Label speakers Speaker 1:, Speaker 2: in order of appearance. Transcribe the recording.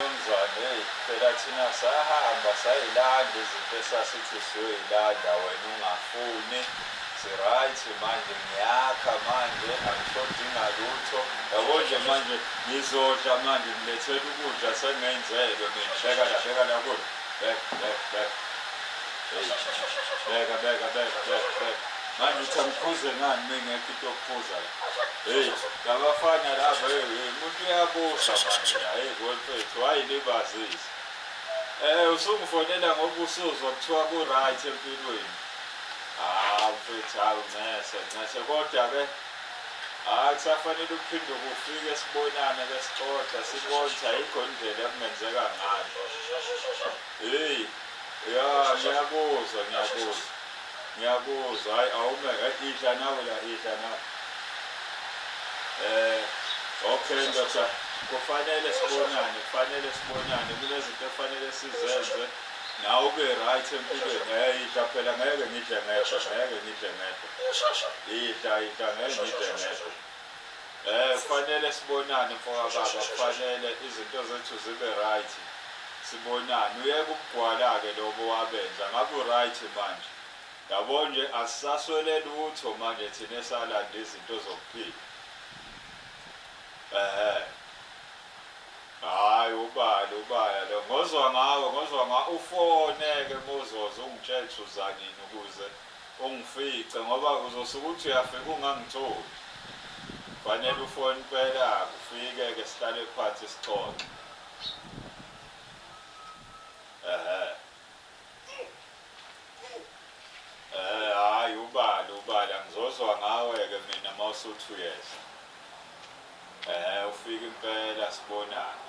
Speaker 1: Mnumzane eyi phela thina sahamba sayilanda izinto esasithi siyoyilanda wena ungafuni si-right manje ngiyakha manje angishodinga lutho yabo nje manje ngizodla manje ngilethela ukudla sengenzelwe ngibeka la beka la kulo beka beka beka Hey, beka beka beka beka beka manje uthi angiphuze ngani mengekho into yokuphuza la Hey, labafana laba hey, hey, umuntu uyabusha manje la hey mfethu wayilibazisa. Eh usungifonela ngoba usuzwa kuthiwa ku right empilweni. Ah mfethu hawu ncese ncese kodwa ke hayi kusafanele ukuphinde kufike sibonane ke sixoxa sibone ayikho indlela ekungenzeka ngayo. Hey, ya ngiyakuzwa ngiyakuzwa. Ngiyakuzwa hayi awume hayi idla nawe la idla nawe. Eh okay ndoda kufanele sibonane kufanele sibonane kunezinto ekufanele sizenze nawe ube right empilweni ngeke idla phela ngeke ngidle ngedwa ngeke ngidle ngedwa idla idla ngeke ngidle ngedwa Eh kufanele sibonane mfokababa kufanele izinto zethu zibe right sibonane uyeke ubugwala ke lobo wabenza ngabe uryt manje yabo nje asisaswele lutho manje thina esalanda izinto zokuphila ehhe hayi ubali ubaya lo ngozwa ngawe ngozwa nga ufone ke mozoza ungitshele ukuthi uzanini ukuze Ungifice ngoba uzosuke uthi uyafika ungangitholi. Kufanele ufone impela kufike ke sihlale phansi sixoxe. Ehhe. Ehhe hhayi ubale ubale angizozwa ngawe ke mina mawusuthi uyeza. Ehhe ufike impela sibonane.